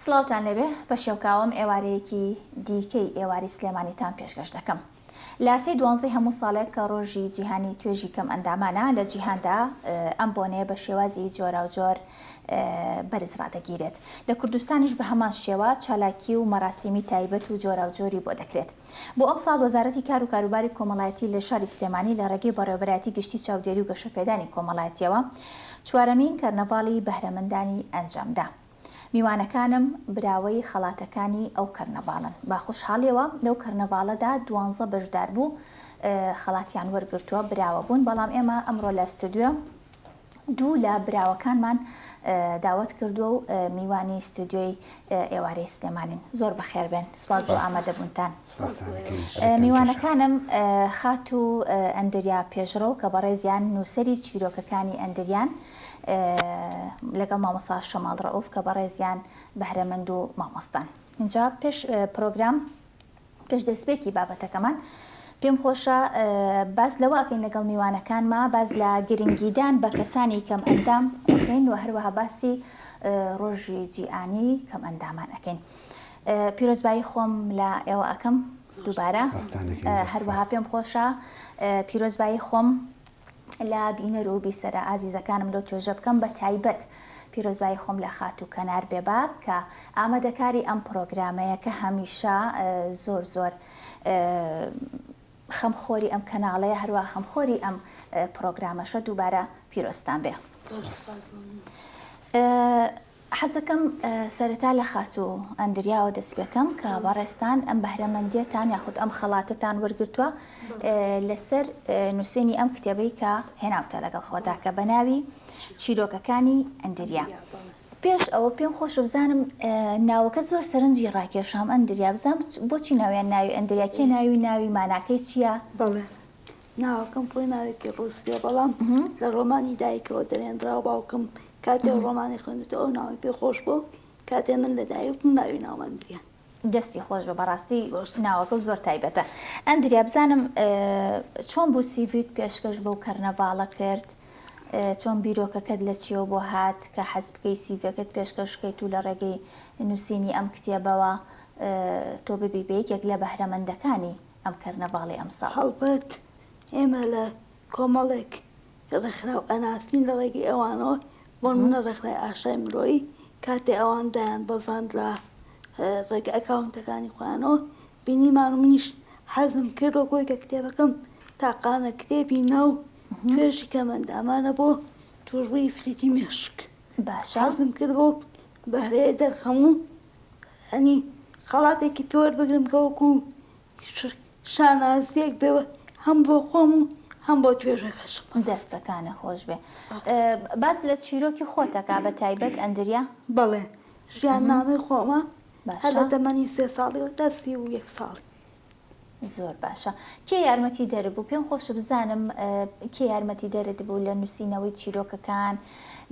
سڵاوتان لێبێ پەشێوکاوم ئێوارەیەکی دیکەی ئێواری سلێمانیتان پێشکەش دەکەم لە سێی دوانزەی هەموو ساڵێک کە ڕۆژی جیهانی توێژی کەم ئەندامانە لە جیهاندا ئەم بۆنەیە بە شێوازی جۆراوجۆر بەرز ڕادەگیرێت لە کوردستانیش بە هەمان شێوە چالاکی و مەراسیمی تایبەت و جۆراوجۆری بۆ دەکرێت بۆ ئەم ساڵ وەزارەتی کار و کاروباری کۆمەڵایەتی لە شاری سلێمانی لە ڕێگەی بەڕێوبەرایەتی گشتی چاودێری و گەشەپێدانی کۆمەڵایەتیەوە چوارەمین کەرنەڤاڵی بەهرەمەندانی ئەنجامدا. میوانەکانم براوەی خەڵاتەکانی ئەو کەرنەڤاڵن، بە خۆشحاڵیەوە لەو کەرنەڤاڵەدا دوانزە بەشداربوو خەڵاتیان وەرگرتووە، براوە بوون، بەڵام ئێمە ئەمڕۆ لە ستۆدیۆ دوو لە براوەکانمان داوەت کردووە و میوانی ستۆدیۆی ئێوارەی سلێمانین، زۆر بەخێربێن، سوپاس بۆ ئامادەبوونتان. میوانەکانم خاتوو ئەندریا پێشڕەو کە بەڕێزیان نووسەری چیرۆکەکانی ئەندریان، لەگەڵ مامۆستا شەماڵ ڕەئوف کە بەڕێزیان بەهرەمەند و مامۆستان ئینجا پێش پرۆگرام پێش دەستپێکی بابەتەکەمان پێم خۆشە باس لەوە ئەکەین لەگەڵ میوانەکانما باز لە گرنگیدان بە کەسانی کەم ئەندام ئەکەین و هەروەها باسی ڕۆژی جیانی کەم ئەندامان ئەەکەین پیرۆزبایی خۆم لە ئێوە ئەەکەم دووبارە هەروەها پێم خۆشە پیرۆزبایی خۆم لە بینەر و بیسەرە ئازیزەکانم لۆ توێژە بکەم بە تایبەت پیرۆزبایی خۆم لە خاتوو کەنار بێباک کە ئامادەکاری ئەم پڕۆگرامەیە کە هەمیشە زۆر زۆر خەم خۆری ئەم کەناڵەیە هەروا خەم خۆری ئەم پڕۆگرامەشە دووبارە پیرۆزتان بێ. حەزەکەم سەرەتا لە خاتوو ئەندریاوە دەست پێکەم کە بەڕێزتان ئەم بەهرەمەندیەتان یاخود ئەم خەڵاتەتان وەرگرتووە لەسەر نووسینی ئەم کتێبەی کە هێناوتە لەگەڵ خۆدا کە بەناوی چیرۆکەکانی ئەندریا پێش ئەوە پێم خۆشە بزانم ناوەکە زۆر سەرنجی ڕاکێشام ئەندریا بزانم بۆچی ناویان ناوی ئەندریا کێ ناوی ناوی ماناکەی چییە؟ بەڵێ ناوەکەم خۆی ناوێکی ڕووسییە، بەڵام لە ڕۆمانی دایکەوە دەرهێنراوە، باوکم کاتێ ئەو ڕۆمانەی خوێندووتەوە ئەو ناوەی پێ خۆش بووە و کاتێ من لە دایک بووم ناوی ناوم ئەندریە. دەستی خۆش بێ بەڕاستی ناوەکە زۆر تایبەتە. ئەندریا بزانم چۆن بوو سیڤیت پێشکەش بەو کەرنەڤاڵە کرد؟ چۆن بیرۆکەکەت لە چیەوە بۆ هات کە حەز بکەی سیڤیەکەت پێشکەش کەیت و لە ڕێگەی نووسینی ئەم کتێبەوە تۆ ببی بە یەکێک لە بەهرەمەندەکانی ئەم کەرنەڤاڵی ئەمساڵ. هەڵبەت ئێمە لە کۆمەڵێک ڕێکخراو ئەناسین لە ڕێگەی ئەوانەوە، بۆ نموونە ڕێکخرای ئاشای مرۆیی کاتێ ئەوان دایان بەزاند لە ڕێگە ئەکاونتەکانی خۆیانەوە بینیمان و منیش حەزم کرد وەک خۆی کە کتێبەکەم تاقانە کتێبی نا و توێژی کەمەندامانە بۆ تووشبووی ئیفلیجی مێشک، حەزم کرد بەو بەهرەیە دەرخەم و یانی خەڵاتێکی پێ وەربگرم کە وەکوو شانازییەک بێ هەم بۆ خۆم و هەم بۆ توێژەکەشم. دەستەکانت خۆش بێ. باس لە چیرۆکی خۆت کە بە تایبەت ئەندریا. بەڵێ ژیاننامەی خۆمە هەر لە تەمەنی سێ ساڵیەوە تا سی و یەک ساڵی. زۆر باشە کێ یارمەتی دەر بوو پێم خۆش بزانم کێ یارمەتی دەرت بوو لە نووسینەوەی چیرۆکەکان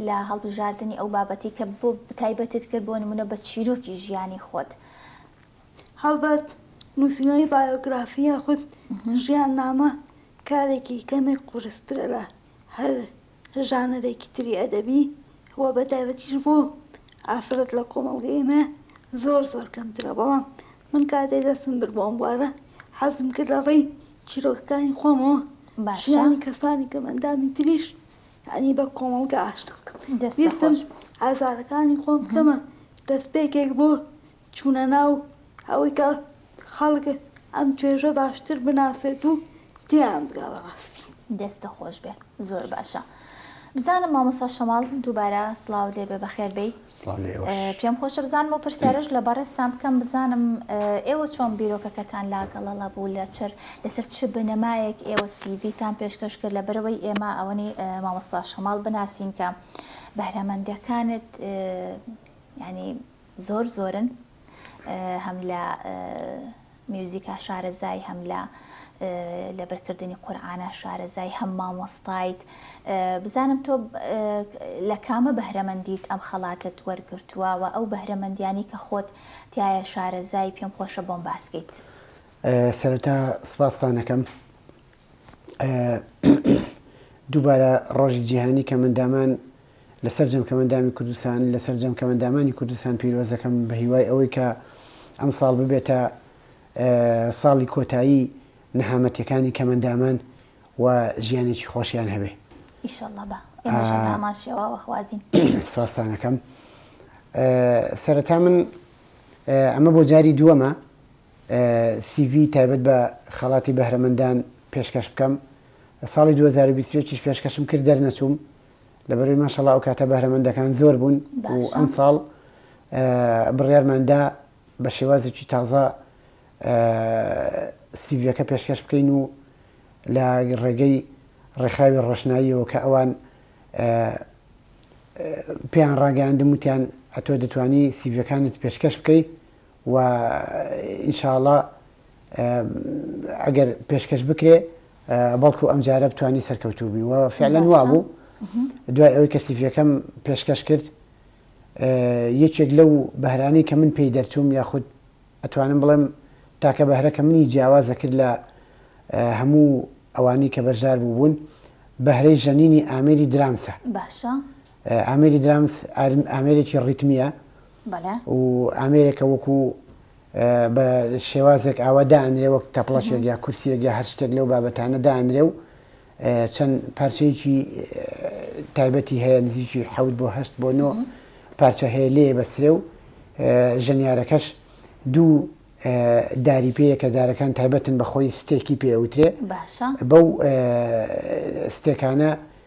لە هەڵبژاردننی ئەو بابەتی کە بۆ بتایبەتت کرد بۆ نمونە بە چیرۆکی ژیانی خۆت هەڵبەت نووسینەوەی بایۆگرافی یاخود ژیان نامە کارێکی کەمێک قورسترە لە هەر ژانەرێکی تری ئەدەبی و بە تایبەتیش بۆ ئافرەت لە کۆمەڵگەی ئێمە زۆر زۆر کەمترە بەڵام من کاتێ دەستم برد بۆ ئەم بوارە حەزم کرد لە ڕێی چیرۆکەکانی خۆمەوە باشە ژیانی کەسانی کەم ئەندامی تریش یعنی بە کۆمەڵگە ئاشنا بکەم دەستت ویستم خۆش ئازارەکانی خۆم بکەمە دەستپێکێک بۆ چوونە ناو ئەوەی کە خەڵک ئەم توێژە باشتر بناسێت و تێیان بگا بە ڕاستی. دەستت خۆشبێ زۆر باشە. بزانم مامۆستا شەماڵ دووبارە سڵاوت لێبێ بەخێر بێی. سڵاو لە ئێوەش. پێم خۆشە بزانم ئەو پرسیارەش لە بەڕێزتان بکەم بزانم ئێوە چۆن بیرۆکەکەتان لا گەڵەڵە بوو لەچەر لەسەر چ بنەمایەک ئێوە سی ڤی تان پێشکەش کرد لەبەرئەوەی ئێمە ئەوەنی مامۆستا شەماڵ بناسین کە بەهرەمەندەکانت یانی زۆر زۆرن هەم لە میوزیکا شارەزای هەم لە لەبەرکردنی قورآانە شارەزای هەم مامۆستایت بزانم تۆ لە کامە بەهرەمەندیت ئەم خەڵاتت وەرگتووە و ئەو بەهرەمەندیانی کە خۆت تایە شارەزای پێم خۆشە بۆم باسکەیت سەرەتا سپاستانەکەم دووبارە ڕۆژی جیهانی کەمەندامان لە سەرجەم کەمەندامی کوردستان لە سەرجەم کەمەندامانی کوردستان پیرۆزەکەم بە هیوای ئەوەی کە ئەم ساڵ ببێتە ساڵی کۆتایی نەهامەتەکانی کەمەندامان و ژیانێکی خۆشیان هەبێ ئیشەڵڵا بە ئێمەش هەر هەمان شێواوە خوازین سواسانەکەم سەرەتا من ئەمە بۆ جاری دووەمە سی ڤی تایبەت بە خەڵاتی بەهرەمەندان پێشکەش بکەم ساڵی دوو هەزار و بیست و یەک یش پێشکەشم کرد دەرنەچووم لەبەروی ماشەڵا ئەوکاتە بەهرەمەندەکان زۆر بوون و ئەمساڵ بڕیارمان دا بە شێوازێکی تازە سی ڤیەکە پێشکەش بکەین و لە ڕێگەی ڕێکخراوی ڕۆشناییەوە کە ئەوان پێیان ڕاگەیاندم وتیان ئەتۆ دەتوانی سیڤەکانت پێشکەش بکەیت و ان شاء اللە ئەگەر پێشکەش بکرێ بەڵکو ئەم جارە بتانی سەرکەوتوو بی و فعلەن وابوو دوای ئەوەی کە سیفیەکەم پێشکەش کرد یەکێک لەو بەهرانی کە من پێی دەرچووم یاخود ئەتوانم بڵێم تاکە بەهرەکە منی جیاوازە کرد لە هەموو ئەوانی کە بەشدار بوو بوون بەهرەی ژەنینی ئامێری درامسە باشە ئامێری درامس ئامێرێکی ڕیتمییە و ئامێرێکە وەکو بە شێوازێک ئاوا دانرێ وەک تەپڵەشێک یا کورسیەک یا هەر شتێک لەو بابەتانە دانرێ و چەند پارچەیەکی تایبەتی هەیە نزیکی حەوت بۆ هەشت بۆ نۆ پارچە هەیە لێ بەسرێ و ژەنیارەکەش دوو داری پێیە کە دارەکان تایبەتن بە خۆی ستێکی پێوترێ بەو ستێکانە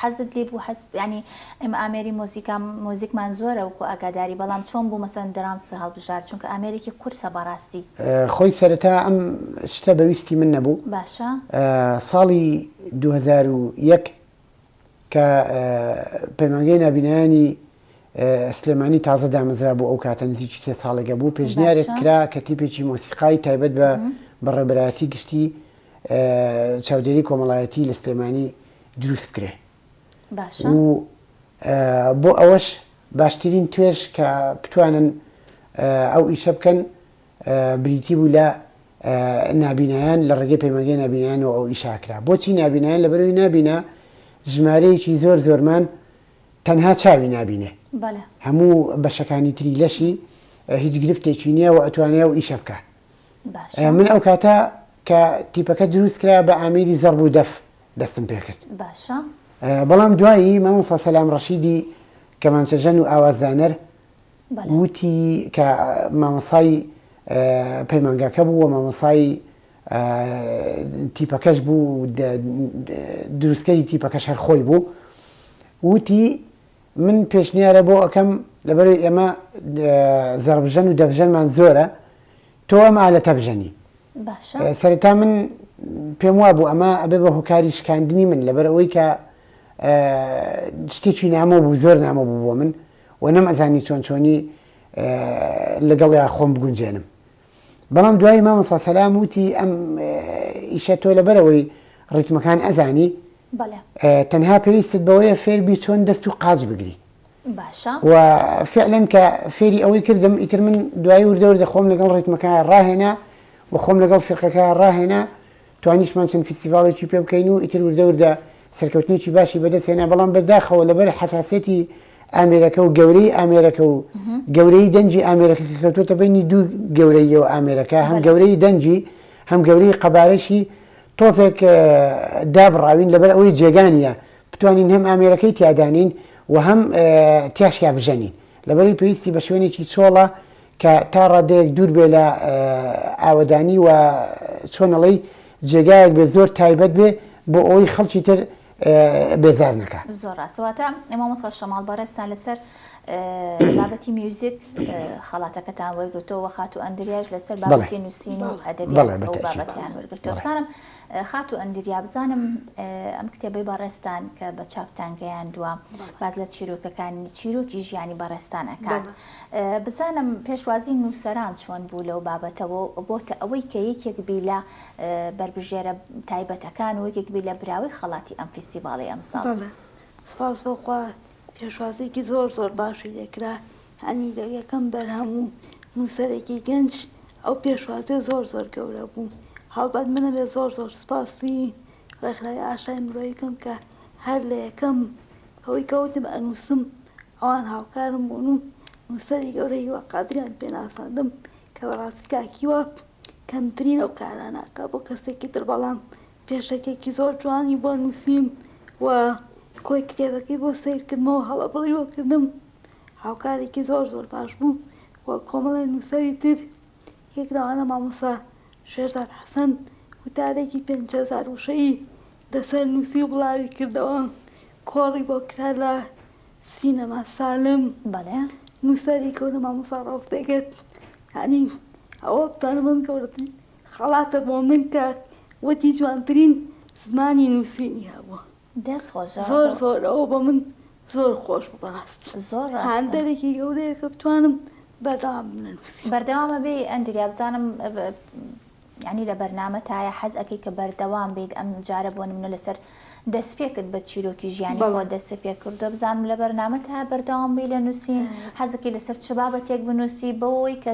حەزت لێ بوو حەز یانی ئێمە ئامێری مۆزیکا مۆزیکمان زۆرە وەکو ئاگاداری بەڵام چۆن بوو مەسەن درامس هەڵبژارد چونکە ئامێرێکی قورسە بەڕاستی. خۆی سەرەتا ئەم شتە بە ویستی من نەبوو باشە. ساڵی دوو هەزار و یەک کە پەیمانگەی نابینایانی سلێمانی تازە دامەزرا بوو ئەو کاتە نزیکی سێ ساڵێگە بوو پێشنیارێک کرا کە تیپێکی مۆسیقای تایبەت بە بە ڕێبەرایەتی گشتی چاودێری کۆمەڵایەتی لە سلێمانی دروست بکرێ باشە. و بۆ ئەوەش باشترین توێژ کە بتوانن ئەو ئیشە بکەن بریتی بوو لە نابینایان لە ڕێگەی پەیمانگەی نابینایانەوە ئەو ئیشە کرا بۆچی نابینایان لە بەروی نابینا ژمارەیەکی زۆر زۆرمان تەنها چاوی نابینێ بەڵێ هەموو بەشەکانی تری لەشی هیچ گرفتێکی نییە و ئەتوانێ و ئیشە بکە باشە. من ئەو کاتە کە تیپەکە دروست کرا بە ئامیری زەڕ بوو دەف دەستم پێ کرد. باشە. بەڵام دوایی مامۆستا سەلام ڕەشیدی کەمانچەژەن و ئاوازدانەر وتی کە مامۆسای پەیمانگاکە بوو و مامۆسای تیپەکەش بوو دروستکەری تیپەکەش هەر خۆی بوو وتی من پێشنیارە بۆ ئەەکەم لەبەر ئێمە زەڕبژەن و دەڤژەنمان زۆرە تۆ ئەم ئالەتە بژەنی. باشە. سەرەتا من پێم وابوو ئەمە ئەبێ بە هۆکاری شکاندنی من لەبەر ئەوەی کە شتێکی نامۆ بوو زۆر نامۆ بوو بۆ من و نەم ئەزانی چۆن چۆنی لەگەڵیا خۆم بگونجێنم بەڵام دوایی مامۆسا سەلام وتی ئەم ئیشە تۆ لەبەرەوەی ڕیتمەکان ئەزانی تەنها پێویستت بەوەیە فێربی چۆن دەست و قاچ بگری باشە. و فیعلەن کە فێری ئەوەی کردم ئیتر من دوایی وردە وردە خۆم لەگەڵ ڕیتمەکەیا ڕاهێنا و خۆم لەگەڵ فیرقەکەیا ڕاهێنا توانیشتمان چەند فیستیڤاڵێکی پێ بکەین و ئیتر وردە وردە سەرکەوتنێکی باشی بەدەست هێنا بەڵام بەداخەوە لەبەر حەساسیەتی ئامێرەکە و گەورەی ئامێرەکە و گەورەی دەنجی ئامێرەکە کە کەوتوتە بینی دوو گەورەیەوە ئامێرەکە هەم گەورەی دەنجی هەم گەورەی قەبارەشی تۆزێک دابڕاوین لەبەر ئەوەی جێگانە بتوانین هەم ئامێرەکەی تیا دانێین و هەم تیاشیا بژەنین لەبەرەی پێویستی بە شوێنێکی چۆڵە کە تا ڕادەیەک دوور بێ لە ئاوەدانی و چۆنەڵی جێگایەک بێ زۆر تایبەت بێ بۆ ئەوەی خەڵکی تر بێزار نەکە زۆر ڕاستەواتە ئەمە مەسا شەماڵ بەڕێستان لەسەر بابەتی میوزیک خەڵاتەکەتان وەرگتەوە خاتو ئەندریاش لەسەر بابەتی نووسین و ئەدەبی بابەتیان وەرگتەوە سارم خاتوو ئەندریا بزانم ئەم کتێبەی بەڕێزتان کە بە چاپتان گەیاندووە باس لە چیرۆکەکانی چیرۆکی ژیانی بەڕێزتان ئەکات بزانم پێشوازی نووسەران چۆن بوو لەو بابەتەوە بۆتە ئەوەی کە یەکێک بی لە بەربژێرە تایبەتەکان و یەکێک بی لە براوەی خەڵاتی ئەم فیستیڤاڵی ئەمساڵ سپاس بۆ خوا پێشوازیکی زۆر زۆر باشی لێکرا هەمیدە یەکەم بەرهەم و نووسەرێکی گەنج ئەو پێشوازیە زۆر زۆر گەورە بوو هەڵبەت من ئەبێ زۆر زۆر سپاسی ڕێکخراوی ئاشای مرۆیی کەم کە هەر لە یەکەم ئەوەی کە وتم ئەنووسم ئەوان هاوکارم بوون و نووسەری گەورە هیوا قادریان پێ ناساندم کە بەڕاستی کاک هیوا کەمترین ئەو کارانە ئەکا بۆ کەسێکی تر بەڵام پێشەکێکی زۆر جوانی بۆ نووسیم و کۆی کتێبەکەی بۆ سەیر کردمەوە هەڵە بڕیوە کردم هاوکارێکی زۆر زۆر باش بوو و کۆمەڵێ نووسەری تر یەک لەوانە مامۆستا شێرزاد حەسەن وتارێکی پێنج هەزار وشەیی لەسەر نووسی و بڵاوی کردەوە کۆڕی بۆ کرا لە سینەما سالم بەڵێ نووسەری گەورە مامۆستا ڕەوف بێگەت یعنی ئەوە بتانە من گەورەترین خەڵاتە بۆ من کە وەکی جوانترین زمانی نووسینی هەبووە. دەست خۆش زۆر زۆر ئەوە بە من زۆر خۆش بوو بەڕاست زۆر ڕاست هاندەرێکی گەورەیە کە بتوانم بەردەوام بنووسی بەردەوامە بێ ئەندریا بزانم ینی لە بەرنامە تایە حەز ئەەکەی کە بەردەوام بیت ئەم جارە بۆ منە لەسەر دەستپێکت بە چیرۆکی ژیانی بۆ دەست پێ کردو بزانم لە بەرنامە تا بەردەوام بی لە نووسین حەزەکەی لەسەر چ بابەتێک بنووسی بەوەی کە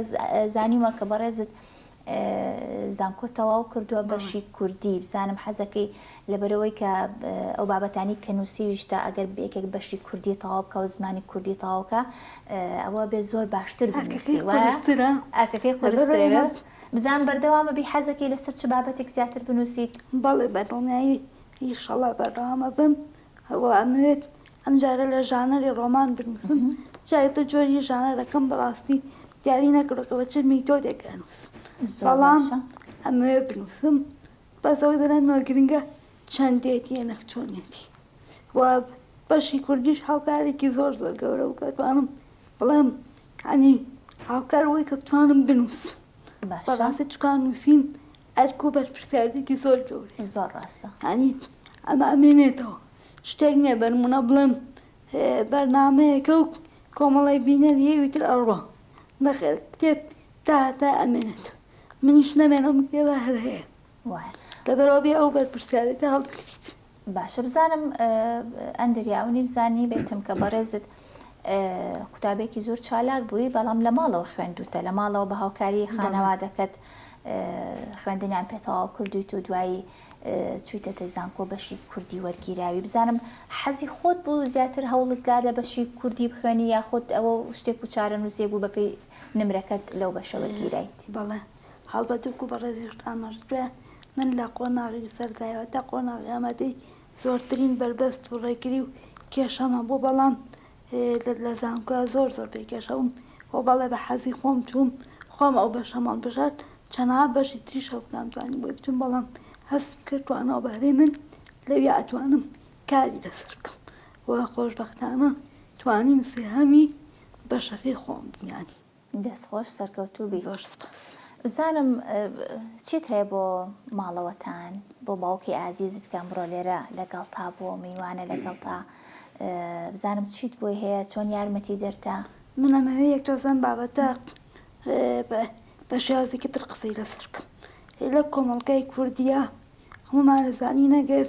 زانیوە کە بەڕێزت زانکۆ تەواو کردوە بەشی کوردی بزانم حەزەکەی لەبەرەوەی کە ئەو بابەتانی کە نووسیویشتە ئەگەر بێکێک بەشی کوردی تەواو بکە و زمانی کوردی تەواوکە ئەوە بێ زۆر باشتر ئەرکەکەی قورسترەوە بزان بەردەوامە بی حەزەکەی لەسەر چ بابەتێک زیاتر بنووسیت بەڵێ بەدڵنیایی ئیشەڵا بەردەوامە بم و ئەمەوێت ئەم جارە لە ژانەری ڕۆمان بنووسم، جا ئیتر جۆری ژانەرەکەم بەڕاستی دیاری نەکردووە کە بە چ میتۆدێک ئەنووسم، بەڵام ئەمەوێت بنووسم، بەس ئەوەی بۆ لای منەوە گرنگە چەندێتییە نەک چۆنێتی و بەشی کوردیش هاوکارێکی زۆر زۆر گەورە بوو کە ئەتوانم بڵێم یانی هاوکار بووی کە بتوانم بنووسم، بەڕاستی چونکە نووسین ئەرک و بەرپرسیاریتێکی زۆر گەورەیە. زۆر ڕاستە. یانی ئەمە ئەمێنێتەوە. شتێک نییە بە نموونە بڵێم بەرنامەیەکە و کۆمەڵێک بینەر هەیە ئیتر ئەڕوا. نەخێر کتێب تا هەتای ئەمێنێت. منیش نەمێنم کتێبە هەر هەیە. وایە. لەبەرئەوە بێ ئەو بەرپرسیارێتە هەڵدەگریت. باشە بزانم ئەندر یا ئەونی بزانی بێتم کە بەڕێزت قوتابێکی زۆر چالاک بووی بەڵام لە ماڵەوە خوێندوتە لە ماڵەوە بە هاوکاری خانەوادەکەت خوێندنیان پێتەواو کردویت و دوایی چویتەتە زانکۆ بەشی کوردی وەرگیراوی بزانم حەزی خۆت بوو زیاتر هەوڵت دا لە بەشی کوردی بخوێنی یاخود ئەوە شتێک و چارە نووسێ بوو بەپی نمرەکەت لەو بەشە وەرگیرایت بەڵێ هەڵبەت وەکو بەڕێزیشت ئاماژەکرا من لە قۆناغی سەرەتایەوە تا قۆناغی ئامادەیی زۆرترین بەربەست و ڕێگری و کێشەم هەبوو بەڵام لە زانکۆ زۆر زۆر پێ کێشەبووم خۆ بەڵێ بە حەزی خۆم چووم خۆم ئەو بەشەم هەڵبژارد چەناا بەشی تریش هەوکام توانی بۆی بچووم بەڵام هەستم کرد توانەوە بەهرەی من لەوی ئەتوانم کاری لەسەر بکەم و خۆشبەختانە توانیم سێهەمی بەشەکەی خۆم بمێنم دەست خۆش سەرکەوتوو بی. زۆر سپاس. بزانم چیت هەیە بۆ ماڵەوەتان بۆ باوکی ئازیزت کەم بڕۆ لێرە لەگەڵتا بۆ میوانە لەگەڵتا بزانم چیت بۆی هەیە چۆن یارمەتی دەرتە من ئەمەوێ یەک تۆزە ئەم بابەتە بە شێوازێکی تر قسەی لەسەر بکەم لە کۆمەڵگای کوردیا هەموومان دەزانین ئەگەر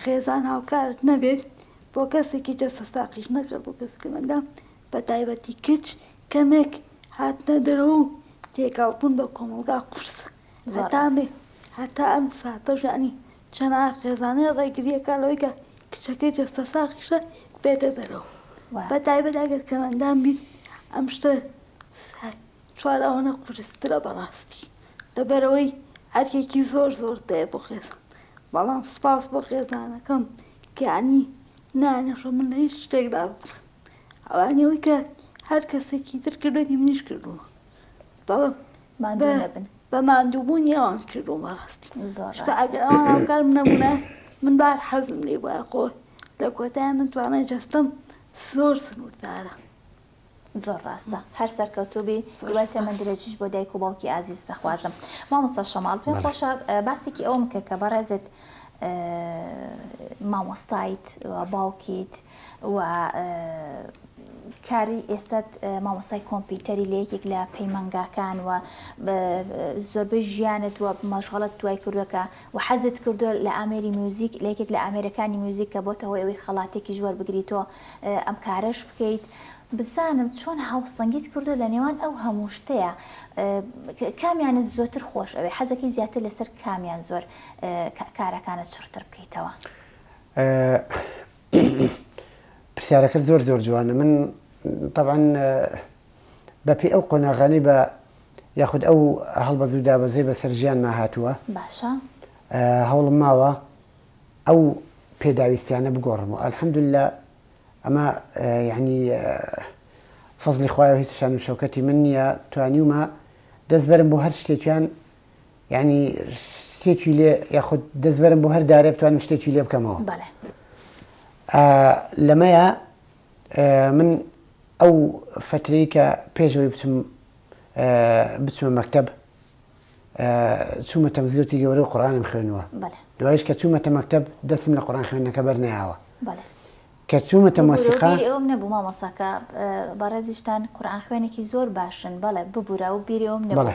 خێزان هاوکارت نەبێت بۆ کەسێکی جەستە ساقیش نەکرێت بۆ کەسێکی منداڵ بە تایبەتی کچ کەمێک هاتنە دەرەوە و تێکەڵ بوون بە کۆمەڵگا قورسە هەتا ئەمێ هەتا ئەم ساتەش یانی چەناخێزانێ ڕێگریەکە لەوەی کە کچەکەی جەستە ساخیشە بێتە دەرەوە بە تایبەت ئەگەر کەمەندان بیت ئەم شتە چوار ئەوەنە قورسترە بەڕاستی لەبەرەوەی ئەرکێکی زۆر زۆر دەیە بۆ خێزان بەڵام سپاس بۆ خێزانەکەم کەیانی نانەشە من لە هیچ شتێکدا بکەم ئەوانی ئەوەی کە هەر کەسێکی تر کردوێتی منیش کردووە بەڵام ماندوو بە- نەبن بە ماندووبوونی ئەوان کردووە بەڕاستی زۆر چونکە ڕاست ئەگەر ئەوان هاوکارم نەبوونە من بار حەزم لێ بووە خۆ لە کۆتای من توانای جەستەم زۆر سنووردارە زۆر ڕاستە هەر سەرکەوتوو بی زۆر هیوای سپاس. تەمەن درێژیش بۆ دایک و باوکی ئازیز دەخوازم مامۆستا شەماڵ پێم بەڵێ. خۆشە اه، باسێکی ئەوەم کە کە بەڕێزت اه، مامۆستایت و باوکیت و کاری ئێستەت مامۆستای کۆمپیوتەری لە یەکێک لە پەیمانگاکان و زۆربەی ژیانت و مەشغەڵت توای کردووە کە و حەزت کردو لە ئامێری میوزیک لە یەکێک لە ئامێرەکانی میوزیک کە بۆتە هۆی ئەوەی خەڵاتێکی ژوەر بگریتۆ ئەم کارەش بکەیت بزانم چۆن هاوسەنگیت کردو لە نێوان ئەو هەموو شتەیە کامیانت زۆتر خۆش ئەوێ حەزەکەی زیاتر لەسەر کامیان زۆر کارەکانت چڕتر بکەیتەوە؟ پرسیارەکە زۆر زۆر جوانە من طبعاً بەپی ئەو قۆناغانی بە یاخود ئەو هەڵبەزوو دابەزێ بە سەرژیانما هاتووە باشە هەوڵم ماوە ئەو پێداویستیانە بگۆڕم و ئەلحەمدللا ئەمە یعنی فەزلی خوایە هیچ شان و شەکەتی من نییە توانیومە دەستبەرم بۆ هەر شتێکیان یانی شتێکی لێ یاخود دەستبەرم بۆ هەر دارێ بتوانم شتێکی لێ بکەمەوە لەمەیە من ئەو فترەی کە پێشەوەی بچم بچمە مەکتب چوومە تەمزیۆتی گەورە و قڕانم خوێنوە دوایش کە چوومەتە مەکتب دەستم لە قڕان خوێنەکە بەرناوە کە چوومە تەماسیقا ئەوم نەبوو مامەساکە بەڕێزیشتان قورآان خوێنێکی زۆر باشن بەڵێ ببوورە و بیرێوم نەڵێ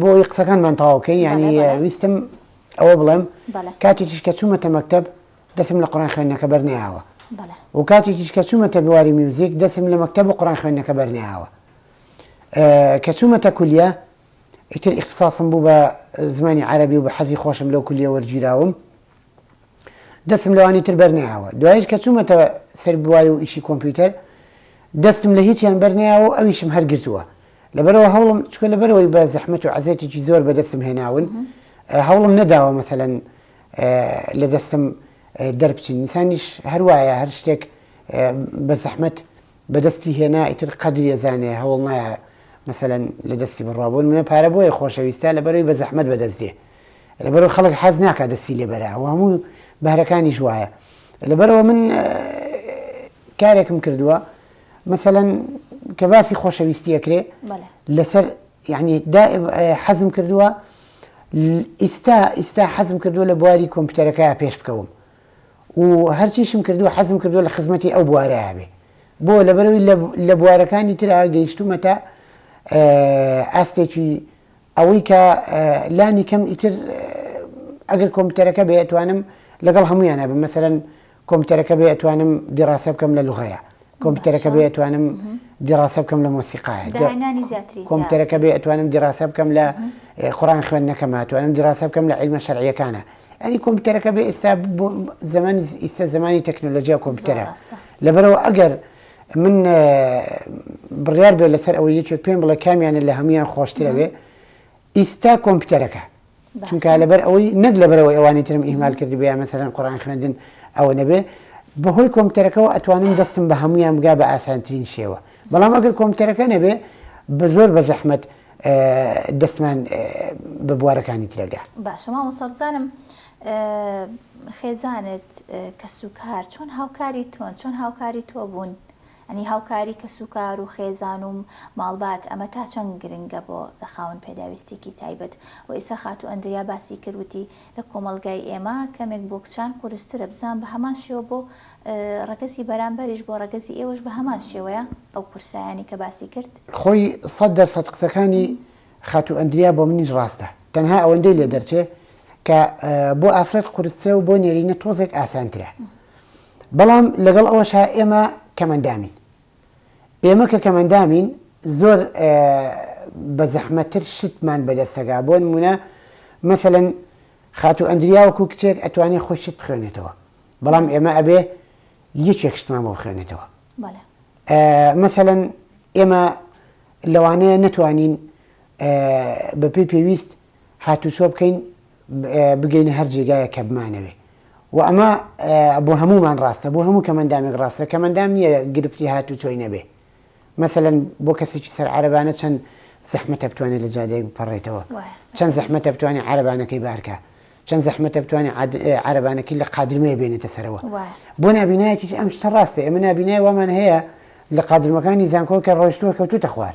بۆی قسەکانمان تەواوکەین یعنی ویستم ئەوە بڵێم کاتی تیش کە چوومەتە مەکتب دەسم لە قڕان خوێندنەکە بەرنیاوە و کاتی تیش کە چوومەتە بواری میوزیک دەسم لە مەکتب و قڕان خوێندنەکە بەرنیاوە کە چوومەتە کولیە ئیتر ئیختصاسم بوو بە زمانی عربی و بە حەزی خۆشم لەو کولیە وەرگیراوم دەستم لەوانی تر بەرنەیاوە دوایش کە چوومەتەوە سەر بواری و ئیشی کۆمپیوتەر دەستم لە هیچیان بەرنەیاوە و ئەویشم هەرگرتووە لەبەرەوە هەوڵم چکە لەبەرەوەی بە زەحمت و عزێتێکی زۆر بەدەستم هێناون هەوڵم نەداوە مەسەەن لە دەستم دەربچین نیسانیش هەروایە هەر شتێک بە زەحمت بەدەستی هێنا ئیتر قەدری ئەزانێ هەوڵ نایە مەسەەن لە دەستی بڕوابوون منە پارە بۆیە خۆشەویستە لە بەروی بە زەحمت بەدەستێ لەبەرئەوە خەڵک حەز ناکا دەستی لێ بەرا و هەموو بەهرەکانیش وایە لەبەرئەوە من کارێکم کردووە مەسەەن کە باسی خۆشەویستی ئەکرێ لەسەر یعنی حەزم کردووە ئیستا ئیستا حەزم کردووە لە بواری کۆمپیوتەرەکە پێش بکەوم و هەرچیشم کردووە حەزم کردووە لە خزمەتی ئەو بوارەیە بێ بۆ لەبەرەوەی لە بوارەکانی ترا گەیشتومەتە ئاستێکی ئەوەی کە لانی کەم ئیتر ئەگەر کۆمپیوتەرەکە بێ ئەتوانم لەگەڵ هەمویانە بم مەسەرەن کۆمپیوتەرەکە بێ ئەتوانم دیڕاسە بکەم لە لوغەیە کۆمپیوتەرەکە بێ ئەتوانم دیڕاسە بکەم لە مۆسیقاە کۆمپیوتەرەکە بێ ئەتوانم دیڕاسە بکەم لە خۆران خوێندنەکەمە توانم دیڕاسە بکەم لە علمە شەرعیەکانە ئەنی کۆمپیوتەرەکە بێ ئێستا زمانی ئیستا زمانی تەکنۆلۆژیا کۆمپیوتەرە لەبەرەوە ئەگەر من بڕیار بێت لەسەر ئەوە یەکێک پێم بڵێ کامیانە لە هەمویان خۆشترەوێ ئیستا کۆمپیوتەرەکە چونکە لەبەر ئەوەی نەک لەبەرەوەی ئەوانی ترم ئیهمال کردی بە یامەسەرەن قڕان خوێندن ئەوە نەبێ بەهۆی کۆمپیوتەرەکەەوە ئەتوانم دەستم بە هەمویان بگا بە ئاسانترین شێوە بەڵام ئەگەر کۆمپیوتەرەکە نەبێ بە زۆر بە زەحمەت دەستمان بە بوارەکانی ترە گا. باشە مامۆستا بزانم خێزانت کەس و کار چۆن هاوکاری تۆن چۆن هاوکاری تۆ بوون ئەنی هاوکاری کەس و کار و خێزان و ماڵبات ئەمە تا چەند گرنگە بۆ خاوەن پێداویستیکی تایبەت وە ئیسا خاتوو ئەندریا باسی کرد وتی لە کۆمەڵگای ئێمە کەمێک بۆ کچان قورسترە، بزان بە هەمان شێوە بۆ ڕەگەزی بەرامبەریش بۆ ڕەگەزی ئێوەش بە هەمان شێوەیە ئەو قورسایانەی کە باسی کرد؟ خۆی سەد دەر سەد قسەکانی خاتوو ئەندریا بۆ منیش ڕاستە، تەنها ئەوەندەی لێ دەرچێ کە بۆ ئافرەت قورسترە و بۆ نێرینە تۆزێک ئاسانترە، بەڵام لەگەڵ ئەوەشا ئێمە کەمئەندامین ئێمە کە کەمەندامین زۆر بە زەحمەتتر شتمان بەدەستەگا بۆ نمونە مەسەلەن خاتو ئەندریا وەکو کچێک ئەتوانێ خۆی شت بخوێنێتەوە بەڵام ئێمە ئەبێ یەکێک شتمان بۆ بخوێنێتەوە مەسەلەن ئێمە لەوانەیە نەتوانین بەپی پێویست هاتوچۆ بکەین بگەینە هەر جێگایەک کە بمانەوێ و ئەمە بۆ هەموومان ڕاستە بۆ هەموو کەمەندامێک ڕاستە کەمەندام نییە گرفتی هاتوچۆی نەبێ مەسەلەن بۆ کەسێکی سەر عەرەبانە چەند زەحمەتە بتوانێت لە جادەیەک بپەڕێتەوە چەند زەحمەتە بتوانێت عەرەبانەکەی بارکە چەند زەحمەتە بتوانێت عەرەبانەکەی لە قادرمەیە بێنێتە سەرەوە بۆ نبینایەکی ئەم شتە ڕاستە ئێمە نبینای وامان هەیە لە قادرمەکانی زانکۆکە ڕۆیشتوە کەوتوتە خوار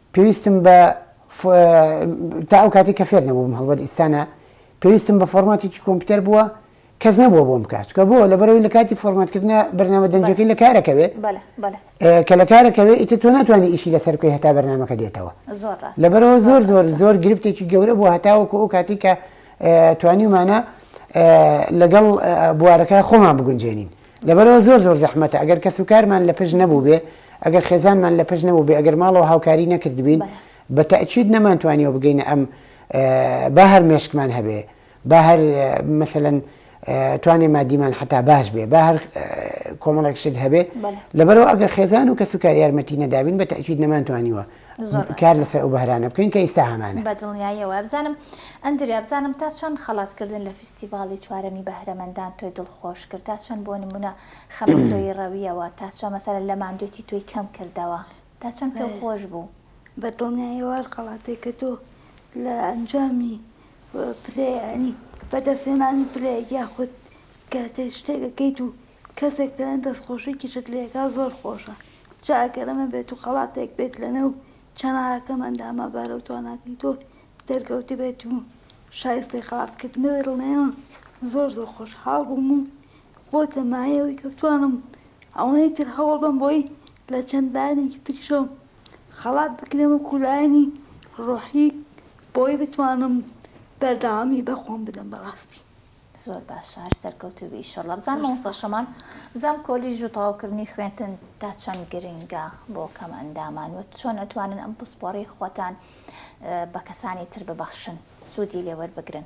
پێویستم بە ف تا ئەو کاتەی کە فێر نەبووم هەڵبەت ئیستا نا پێویستم بە فۆرماتێکی کۆمپیوتەر بووە کەس نەبووە بۆم بکات چکە بۆ لەبەرەوەی لە کاتی فۆرماتکردنە بەرنامە دەنجەکەی لە کارەکەوێ کە لە کارەکەوێ ئیتر تۆ ناتوانانی ئیشی لەسەر بکەی هەتا بەرنمەکە دێتەوە لەبەرەوە زۆر زۆر زۆر گرفتێکی گەورە بوو هەتاوەکو ئەو کاتی کە توانیمانە لەگەڵ بوارەکە خۆمان بگونجێنین لەبەرەوە زۆر زۆر زەحمەتە ئەگەر کەس و کارمان لە پشت نەبوو بێ ئەگەر خێزانمان لە پشت نەبووبێ ئەگەر ماڵەوە هاوکاری نەکردبین بە تەئکید نەمانتوانیەوە بگەینە ئەم با هەر مێشکمان هەبێ با هەر مثلەن توانێ مادیمان حتا باش بێ با هەر کۆمەڵێک شت هەبێ لەبەرەوە ئەگەر خێزان و کەس و کار یارمەتی نەدابین بە تاکیید نەمانتوانیوە کار لەسەر ئەو بەهرانە بکەین کە ئیستا هەمانە بە دڵنیاییەوە بزانم ئەندریا بزانم تا چەند خەڵاتکردن لە فیستیڤاڵی چوارەمی بەهرەمەندان تۆی دڵخۆش کرد تا چەند بۆ نمونە خەمی تۆیی ڕەویەوە تا چەند مەسەلەن لە ماندووێتی تۆی کەم کردەوە تا چەند پێو خۆش بوو. بە دڵنیایی ئەو هەڵخەڵاتەی کە تۆ لە ئەنجامی پلەی یانی بە دەست هێنانی پلەیەک یاخود کاتێک شتێک ئەکەیت و کەسێک تەنێ دەست خۆشیکیشت لێ ئەکا زۆر خۆشە جا ئەگەر ئەمە بێت و خەڵاتێک بێت لە نێو چەناگەکەم ئەندامە بارە و تواناکەی تۆ دەرکەوتبێت و شایستەی خەڵات کردنەوەی ڕڵێمە زۆر زۆر خۆشحاڵ بووم و بۆتە مایە ئەوەی کە بتوانم ئەوەنەی تر هەوڵ بەم بۆی لە چەند لایەنێکی تریشەوە خەڵات بکرێم وەکو لایەنی ڕۆحی بۆی بتوانم بەردەوامی بە خۆم بدەم بەڕاستی. زۆر باشە هەر سەرکەوتوو بی ئیشەڵا بزان مامۆستا شەماڵ بزانم کۆلیژ و تەواوکردنی خوێندن تا چەند گرنگە بۆ کەم ئەندامان و چۆن ئەتوانن ئەم پسپۆڕی خۆتان بە کەسانی تر ببەخشن سوودی لێ وەربگرن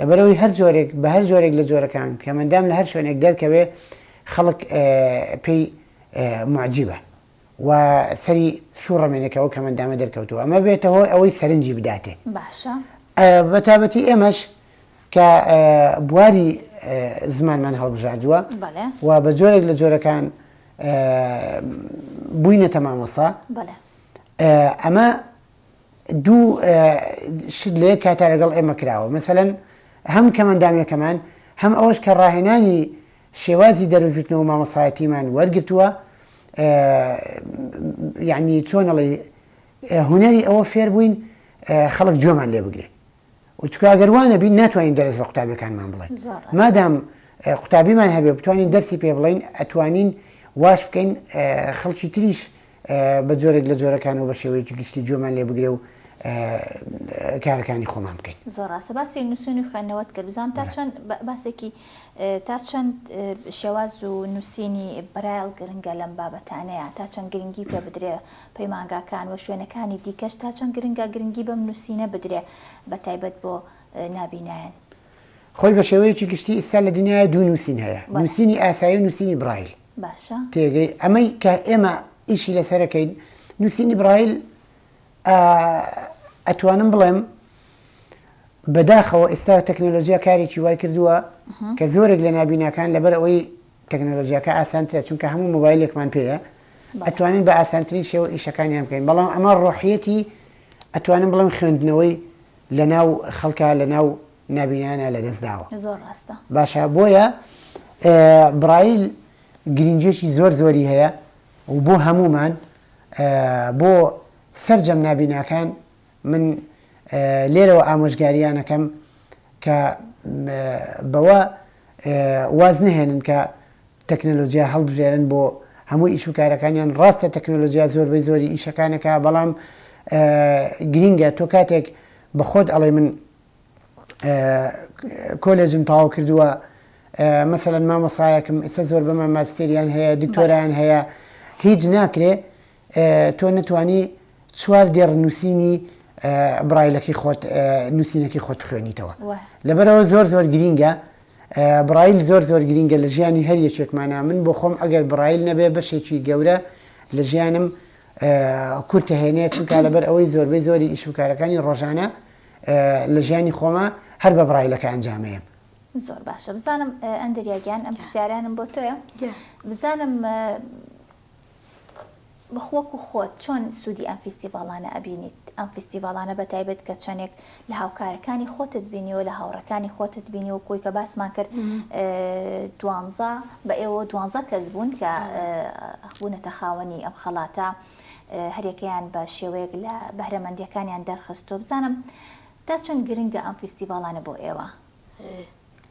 لەبەرئەوەی هەر جۆرێک بە هەر جۆرێک لە جۆرەکان کە مەندام لە هەر شوێنێک دەرکەوێ خەڵک پێی معجیبە و سەری سوڕەمێنێکەوە کە مەندامە دەرکەوتووە ئەمە بێتە هۆی ئەوەی سەرنجی بداتێ باشە بەتابەتی ئێمەش کە بواری زمانمان هەڵبژاردووە و بە جۆرێک لە جۆرەکان بووینەتە مامۆسا ئەمە دوو شت لە یەک کاتا لەگەڵ ئێمە کراوە مەسەلەن هەم کەمەندامەکەمان هەم ئەوەش کە ڕاهێنانی شێوازی دەروژوتنەوە مامەسایەتیمان وەرگتووە یعنی چۆنەڵی هوەری ئەوە فێر بووین خەڵک جۆمان لێ بگرێت و چکە ئەگەر وانە بین ناتوانین دەرس بە قوتابیەکانمان بڵێن مادام قوتابیمان هەبێ بتوانین دەرسی پێ بڵین ئەتوانین واش بکەین خەڵکی تریش بە جۆرێک لە جۆرەکانەوە بە شێوەیەکی گشتی جۆمان لێ بگرێ و کارەکانی خۆمان بکەین زۆر ڕاستە باسی نووسنی خوێندنەوەت کرد بزانام تا چەند باسێکی تا چەند شێواز و نووسینی برایل گرنگە لەم بابەتانەیە تا چەند گرنگی پێ بدرێ پەیمانگاکان و شوێنەکانی دیکەش تا چەند گرنگە گرنگی بەم نووسینە بدرێ بە تایبەت بۆ نابینایان. خۆی بە شێوەیەکی گشتی ئیستا لە دنیایا دوو نووسین هەیە، نووسینی ئاسایی و نووسینی برایل. باشە. تێگەی ئەمەی کە ئێمە ئیشی لەسەر ئەکەین، نووسینی برایل ئا ئەتوانم بڵێم بەداخەوە ئیستا تەکنەلۆژیا کارێکی وای کردووە کە زۆرێک لە نابیناکان لەبەر ئەوەی تەکنەلۆجیاکە ئاسانترە چونکە هەموو مۆبایلێکمان پێیە ئەتوانین بە ئاسانترین شێوە ئیشەکانیان بکەین بەڵام ئەمە ڕۆحیەتی ئەتوانم بڵێم خوێندنەوەی لە ناو خەڵکە لە ناو نابینانە لە دەستداوە زۆر ڕاستە باشە بۆیە برایل گرنگێکی زۆر زۆری هەیە و بۆ هەمومان بۆ سەرجەم نابیناکان من لێرەوە ئامۆژگاریان ئەکەم کە بەوە واز نەهێنن کە تەکنەلۆجیا هەڵبژێرن بۆ هەموو ئیش و کارەکانیان ڕاستە تەکنەلۆجیا زۆربەی زۆری ئیشەکانەکە بەڵام گرینگە تۆ کاتێک بە خۆت ئەڵێ من کۆلێجم تاو کردووە مەسەەن مامۆسایەکم ئێستا زۆر بەمە ماستێریان هەیە دکتۆران هەیە هیچ ناکرێ تۆ نەتوانی چوار دێڕ نووسینی برایلەکەی خۆت نووسینەکەی خۆت بخوێنیتەوە لەبەرەوە زۆر زۆر گرینگە برایل زۆر زۆر گرینگە لە ژیانی هەر یەکێکمانە من بۆ خۆم ئەگەر برایل نەبێ بەشێکی گەورە لە ژیانم کورتە هێنێ چونکە لەبەر ئەوەی زۆربەی زۆری ئیش و کارەکانی ڕۆژانە لە ژیانی خۆمە هەر بە برایلەکە ئەنجامەیە زۆر باشە بزانم ئەندریاگیان ئەم پرسیارانم بۆ تۆیە بزانم بخ وەکو خۆت چۆن سودی ئەم فیستیڤاڵانە ئەبینیت ئەم فیستیڤاڵانە بەتایبەت کە چەنێک لە هاوکارەکانی خۆتت بینیوە لە هاوڕێکانی خۆتت بینی وەکو ئەوی کە باسمان کرد دوانزە بە ئێوە دوانزە کەس بوون کە بوونەتە خاوەنی ئەم خەڵاتە هەرێکەیان بە شێوەیەک لە بەهرەمەندیەکانیان دەرخستۆ بزانم تا چەند گرنگە ئەم فیستیڤاڵانە بۆ ئێوە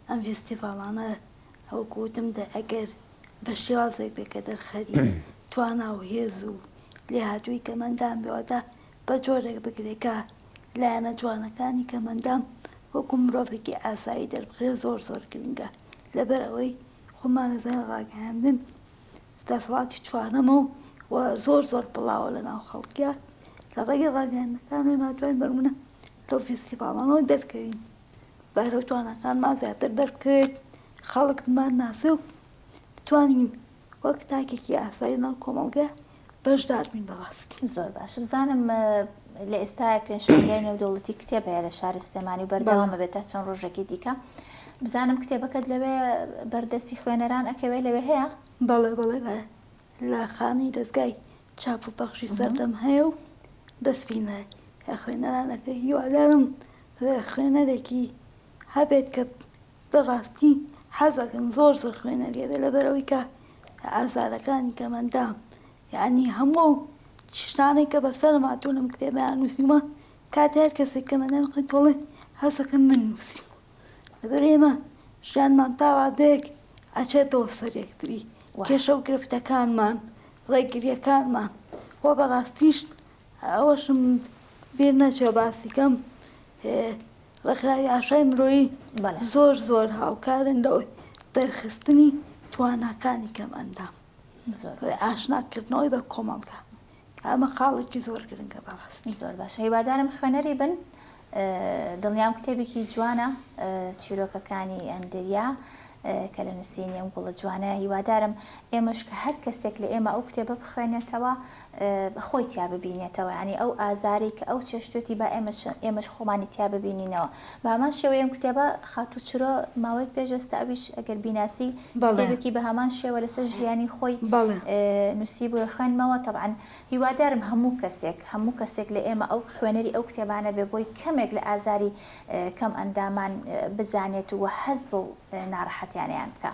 ئەم فیستیڤاڵانە وەکو وتم دە ئەگەر بە شێوازێک بێ کە دەرخەری توانا و هێز و لێهاتوویی کەمەندان بێ واتە بە جۆرێک بکرێ کە لایەنە جوانەکانی کەمەندان وەکو مرۆڤێکی ئاسایی دەربکرێ زۆر زۆر گرنگە لە بەر ئەوەی خۆمان ئەزانین ڕاگەیاندن دەسەڵاتی چوارەمە و و زۆر زۆر بڵاوە لە ناو خەڵکیا لە ڕێگەی ڕاگەیاندنەکانەوە ناتوانین بەرمونە لەو فیستیڤاڵانەوە دەرکەوین. بەهرە و تواناکانمان زیاتر دەربکەوێت، خەڵک بمانناسێ و بتوانین وەک تاکێکی ئاسایی لەناو کۆمەڵگە بەشدار بین بە ڕاستی. زۆر باش. بزانم لە ئێستایا پێشانگای نێودەوڵەتی کتێب هەیە لە شاری سلێمانی و بەردەوامە بێت تا چەند ڕۆژێکی دیکە. بزانم کتێبەکەت لەوێ بەردەستی خوێنەران ئەکەوێ لەوێ هەیە؟ بەڵێ بەڵێ لە لە خانەی دەزگای چاپ و پەخشی سەردەم هەیە و دەست پی نایە خوێنەران ئەکرێ. هیوادارم خوێنەرێکی هەبێت کە بەڕاستی حەزەکەم زۆر زۆر خوێنەری هەبێت لەبەرئەوەی کە ئازارەکانی کەم ئەندام یانی هەموو ئەو شتانەی کە بەسەرم هاتووە لەم کتێبەیان نووسیومە کاتێ هەر کەسێک کەم ئەندامی بخوێنێت دەڵێ حەزەکەم من نووسیومە لەبەر ئێمە ژیانمان تا ڕادەیەک ئەچێتەوە سەر یەکتری کێشە و گرفتەکانمان ڕێگریەکانمان وە بەڕاستیش ئەوەشم بیر نەچوە باسی کەم ڕێکخراوی ئاشای مرۆیی زۆر زۆر هاوکارن لە دەرخستنی تواناکانی کەمئەندام ئاشناکردنەوەی بە کۆمەڵگا ئەمە خاڵێکی زۆر گرنگە بەڕاستی. زۆر باشە هیوادارم خوێنەری بن دڵنیام کتێبێکی جوانە چیرۆکەکانی ئەندریا کە لە نووسینی ئەم گوڵە جوانە هیوادارم ئێمەش کە هەر کەسێک لە ئێمە ئەو کتێبە بخوێنێتەوە خۆی تیا ببینێتەوە ینی ئەو ئازارێک کە ئەو چێشتێتی با ئێمە ئێمەش خۆمانی تیا ببینینەوە بامان شێوەیەم کتێبە خاتوو چرۆ ماوەیەک پێشێستا ئەویش ئەگەر بیناسی کتێبێکی بە هەمان شێوە لەسەر ژیانی خۆی نووسی بۆ خوێنمەوە طبعاان هیوادارم هەموو کەسێک هەموو کەسێک لە ئێمە ئەو خوێنەری ئەو کتێبانە بێ بۆی کەمێک لە ئازاری کەم ئەندامان بزانێت و هەست بەو ناڕەحەتیانەیان بکا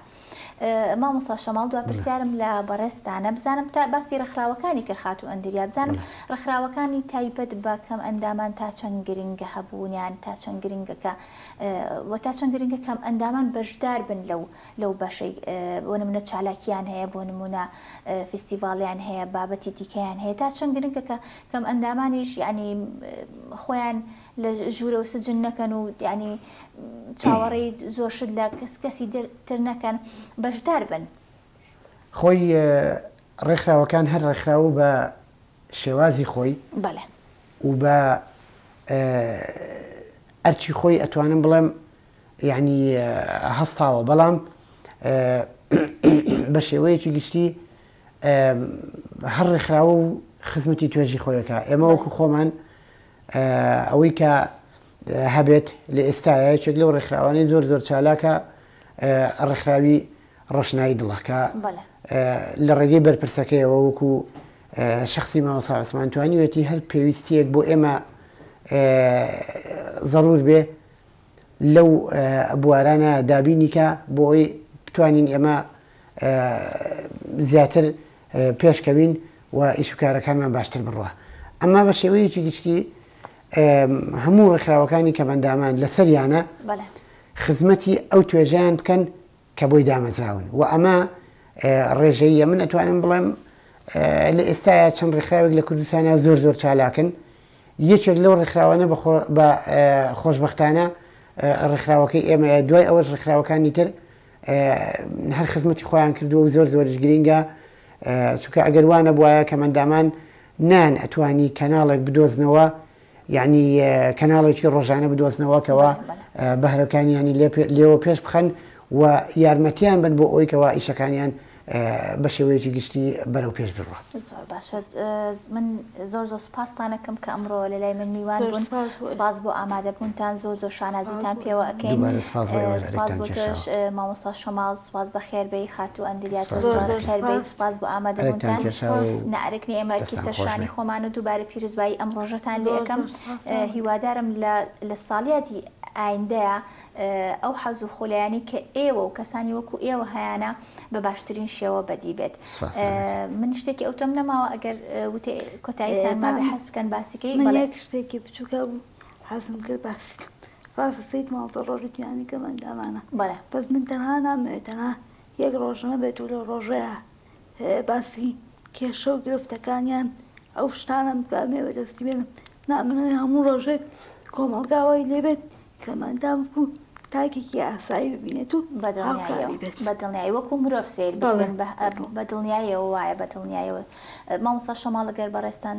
مامۆسا شەماڵ دوا پرسیارم لە بەڕێستانە بزانم تا باسی ڕخراوەکانی کرد خاتو ئەندریا بزانم ڕخراوەکانی تایبەت بە کەم ئەندامان تا چەند گرنگە هەبوونیان تا چەند گرنگەکە و تا چەند گرنگە کەم ئەندامان بەشدار بن لەو لەو بەشەی بۆ نمونە چالاکیان هەیە بۆ نمونە فیستیڤاڵیان هەیە بابەتی دیکەیان هەیە تا چەند گرنگە کە کەم ئەندامانیش یعنی خۆیان لە ژوورە و سجن نەکەن و یعنی چاوەڕێی زۆر شت لە کەس کەسی تر نەکەن بەشدار بن خۆی ڕێکخراوەکان هەر ڕێکخراوە بە شێوازی خۆی بەڵێ و بە ئەرچی خۆی ئەتوانم بڵێم یەعنی هەستاوە بەڵام بە شێوەیەکی گشتی هەر ڕێکخراوە و خزمەتی توێژی خۆی ئەکا. ئێمە وەکو خۆمان ئەوەی کە هەبێت لە ئێستایە یەکێک لەو ڕێکخراوانەی زۆر زۆر چالاکە ڕێکخراوی ڕۆشنایی دڵە کە لە ڕێگەی بەرپرسەکەیەوە وەکو شخصی مامۆسا عوسمان توانیوێتی هەر پێویستیەک بۆ ئێمە ضرور بێ لەو بوارانە دابینی کا بۆ ئەوەی بتوانین ئێمە زیاتر پێش کەوین و ئیش و کارەکانمان باشتر بڕوا. ئەمە بە شێوەیەکی گشتی هەموو ڕێکخراوەکانی کەمەندامان لەسەریانە خزمەتی ئەو توێژەیان بکەن کە بۆی دامەزراون و ئەمە ڕێژەییە من ئەتوانم بڵێم لە ئێستایا چەند ڕێکخراوێک لە کوردستانە زۆر زۆر چالاکن یەکێک لەو ڕێکخراوانە بە خۆشببختانە ڕێکخراوەکەی ئێمە دوای ئەوەش ڕێکخراوەکانی تر هەر خزمەتی خۆیان کردووە و زۆر زۆرش گرینگە چونکە ئەگەر وانە بواە کە مندامان نان ئەتوانی کەناڵێک بدۆزنەوە یانی کەناڵێکی ڕۆژانە بدۆزنەوە کەوا بەهرەکانیانی لێوە پێش بخەن و یارمەتیان بن بۆ ئەوی کەوا ئیشەکانیان بە شێوەیەکی گشتی بەرەو پێش بڕە باشەت من زۆر زۆر سپاستانەکەم کە ئەمڕۆ لە لای من میوان بوون سپاس بۆ ئامادەبوونتان زۆر زۆر شانازیتان پێوە ئەەکەین مامەسا شەماز سوپاس بەخێر بێی خاتوو ئەندریا تۆش زۆر زۆر بەخێر بێی سوپاس بۆ ئامادە بوونتان نەئەرک نیە ئێمە ئەرکی سەر شانی خۆمان و دووبارە پیروزبایی ئەم ڕۆژەتان لێ ئەکەم هیوادارم لە لە ساڵیادی ئایندەیا ئەو حەز و خولایانی کە ئێوە و کەسانی وەکو ئێوە هەیانە بە باشترین شێوە بەدی بێت من شتێکی ئەوتۆم نەماوە ئەگەر وتێ کۆتاییتان مابێ حەز بکەن باسی کەی من یەک شتێکی بچووکە حەزم کرد باسی بکەم ڕاستە سەید ماڵ سەر ڕۆژی جیهانی کەم ئەندامانە بەڵێ بەس من تەنها نامەوێت تەنها یەک ڕۆژ نەبێت و لەو ڕۆژەیە باسی کێشە و گرفتەکانیان ئەو شتانم بکە مێوە دەستی بێنم نامنەوێت هەموو ڕۆژێک کۆمەڵگاوای لێبێت کەمەندام بکو تاکێکی ئاسایی ببینێت و هاوکاری بێت بە دڵنیایی وەکو مرۆڤ سیر بکەن بە دڵنیایەوە وایە بە دڵنیایەوە مامۆستا شەماڵ گەر بەڕێزتان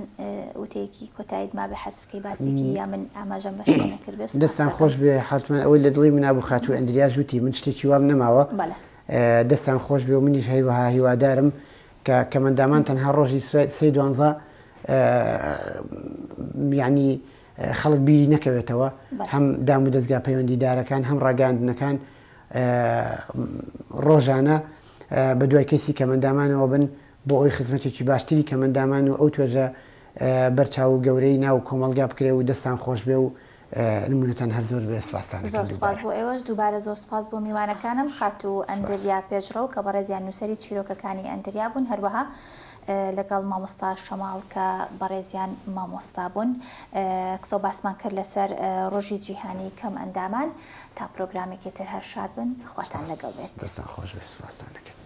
وتەیەکی کۆتایت مابێ حەز بکەی باسێکی یا من ئاماژەم بە شتێ نەکرد بێ سوپاستان دەستان خۆش دەکەم بێ حاتمەن ئەوەی لە دڵی منا بوو خاتوو ئەندریاش وتی من شتێکی وام نەماوە بەڵێ ئێ، دەستان خۆش بێ و منیش هەیوەها هیوادارم کە کەمەندامان تەنها ڕۆژی سێ سێی دوانزە ئێ، یانی ئێ، خەڵک بیری نەکەوێتەوە بەڵێ هەم دام و دەزگا پەیوەندیدارەکان هەم ڕاگەیاندنەکان ئێ، ڕۆژانە ئێ، بە دوای کەیسی کەمەندامانەوە بن بۆ ئەوەی خزمەتێکی باشتری کەمئەندامان و ئەو توێژە بەرچاو و گەورەی ناو کۆمەڵگا بکرێ و دەستان خۆشبێ و نمونەتان هەر زۆر بێ سپاستان دەکەم دووبارە. زۆر سپاس بۆ ئێوەش دووبارە زۆر سپاس بۆ میوانەکانم خاتوو ئەندریا پێشڕەو کە بەڕێزیان نووسەری چیرۆکەکانی ئەندریا بوون هەروەها لەگەڵ مامۆستا شەماڵ کە بەڕێزیان مامۆستا بوون قسەو باسمان کرد لەسەر ڕۆژی جیهانی کەمئەندامان تا پرۆگرامێکی تر هەر شاد بن خواتان لەگەڵ بێت. دەستان خۆشبێ سپاستان دەکەم.